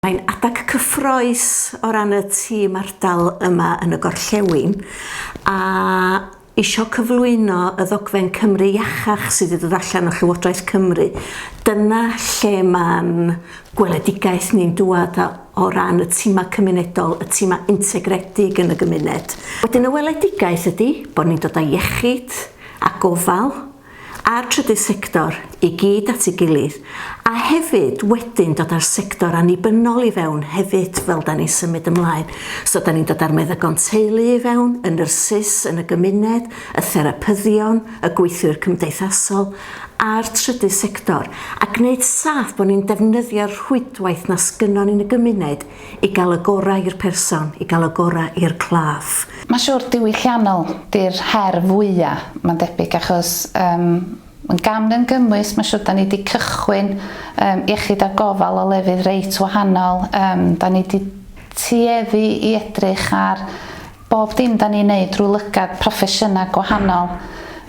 Mae'n adeg cyffrous o ran y tîm ardal yma yn y gorllewin a isio cyflwyno y ddogfen Cymru Iachach sydd wedi dod allan o Llywodraeth Cymru. Dyna lle mae'n gweledigaeth ni'n dŵad o ran y timau cymunedol, y timau integredig yn y gymuned. Wedyn y weledigaeth ydy bod ni'n dod â iechyd a gofal, a'r trydydd sector i gyd at ei gilydd, a hefyd wedyn dod â'r sector annibynnol i fewn hefyd fel 'dan ni'n symud ymlaen. So 'dan ni'n dod â'r meddygon teulu i fewn, y nyrsys yn y gymuned, y therapyddion, y gweithwyr cymdeithasol, a'r trydydd sector, a gneud saff bo' ni'n defnyddio'r rhwydwaith 'na sgynnon ni yn y gymuned I gael y gorau i'r person, i gael y gorau i'r claf. Mae'n siwr diwylliannol 'di'r her fwya', mae'n debyg, achos yym yn gam yn gymwys, mae'n siwr 'da ni 'di cychwyn yym iechyd a gofal o lefydd reit wahanol, yym 'da ni 'di tueddu i edrych ar bob dim 'da ni'n neud drwy lygad proffesiynau gwahanol,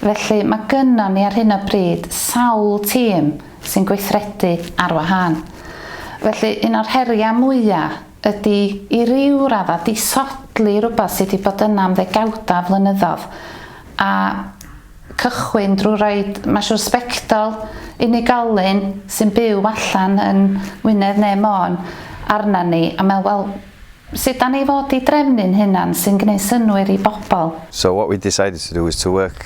felly mae gynnon ni ar hyn o bryd sawl tîm, sy'n gweithredu ar wahân. Felly, un o'r heriau mwya' ydi i ryw radda' disodli rwbath sy' 'di bod yna am ddegawda' o flynyddodd, a cychwyn drw roid, ma' siŵr, sbectol unigolyn sy'n byw allan yn Wynedd ne' Môn arnan ni, a me'wl, wel, sud 'dan ni fod i drefnu'n hunan sy'n gneud synnwyr i bobol? So what we decided to do is to work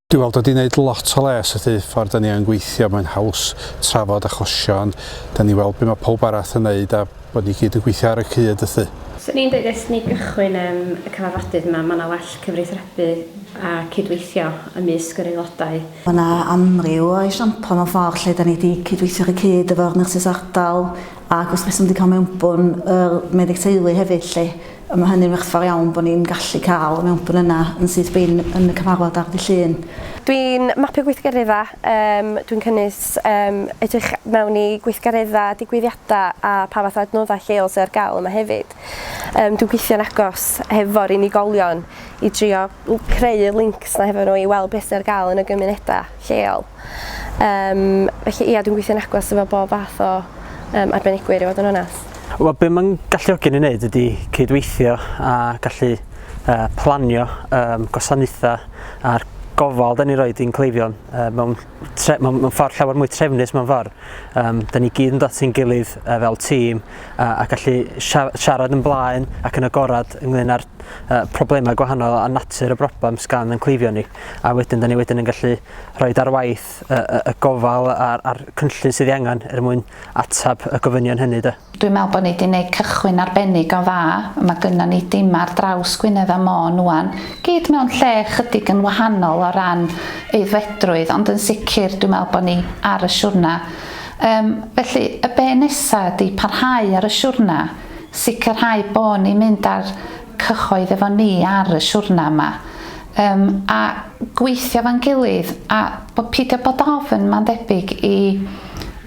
Dwi weld wedi neud lot o les wrth y ffordd da ni yn gweithio, mae'n haws trafod achosion, da ni weld be mae pawb arall yn neud a bod ni gyd yn gweithio ar y cyd wrth. Swn i'n deud ers ni gychwyn yym y cyfarfodydd yma, mae yna well cyfreithrebu a cydweithio ymysg yr aelodau. Mae yna amryw o esiampl mewn ffordd lle da ni wedi cydweithio ar y cyd efo'r nyrsys ardal ac wrth reswm wedi cael mewnbwn yr meddyg teulu hefyd lly. Mae hynny'n werthfawr iawn bod ni'n gallu cael y mewnbwn yna yn syth bin yn y cyfarfod ar ddydd Llun. Dwi'n mapio gweithgareddau, yym dwi'n cynnwys yym edrych mewn i gweithgareddau, digwyddiadau a pa fath o adnoddau lleol sydd ar gael yma hefyd. Yym dwi'n gweithio'n agos hefo'r unigolion i drio creu y lincs 'na hefo nhw i weld beth sydd ar gael yn y gymunedau lleol. Um, felly ia, dwi'n gweithio'n agos efo bob fath o um, arbenigwyr i fod yn onest. Wel, be mae'n galluogi ni wneud ydy cydweithio a gallu uh, planio um, gwasanaethau a'r gofal da ni roed i'n cleifion uh, mewn, tre, mewn, mewn ffordd llawer mwy trefnus mewn ffordd. Um, da ni gyd yn dod atyn gilydd uh, fel tîm uh, a gallu siarad yn blaen ac yn agorad ynglyn â'r uh, problemau gwahanol a natur y broblem sgan yn cleifion ni. A wedyn da ni wedyn yn gallu rhoid ar waith y, y, y gofal a'r, a'r cynllun sydd ei angen er mwyn atab y gofynion hynny. Da. Dwi'n meddwl bod ni wedi gwneud cychwyn arbennig o dda. Mae gynnon ni dimau ar draws Gwynedd a Môn ŵan, gyd mewn lle ychydig yn wahanol o ran aeddfedrwydd, ond yn sicr dwi'n meddwl bod ni ar y siwrna. Um, felly, y be nesaf ydy parhau ar y siwrna, sicrhau bod ni'n mynd ar cyhoedd efo ni ar y siwrna yma yym a gweithio efo'n gilydd a bo- pidio bod ofn ma'n debyg i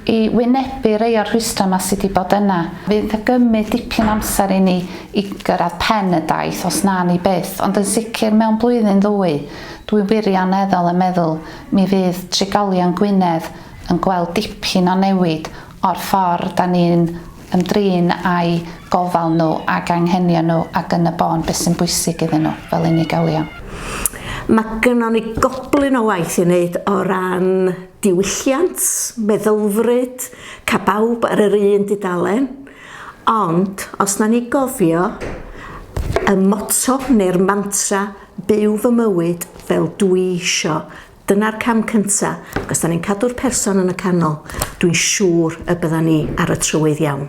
i wynebu rei o'r rhwystra ma sy di bod yna. Fydd yn gymyd dipyn amser i ni i gyrradd pen y daith os na ni byth ond yn sicr mewn blwyddyn ddwy dwi wirioneddol yn meddwl mi fydd trigolion Gwynedd yn gweld dipyn o newid o'r ffor da ni'n ymdrin â'u gofal nhw ac anghenion nhw ac yn y bôn beth sy'n bwysig iddyn nhw fel unigolion. Mae gynnon ni goblyn o waith i wneud o ran diwylliant, meddylfryd, cael bawb ar yr un dudalen, ond os na ni gofio y motto neu'r mantra 'byw fy mywyd fel dwi isio', Dyna'r cam cynta, ac os 'da ni'n cadw'r person yn y canol, dwi'n siŵr y byddan ni ar y trywydd iawn.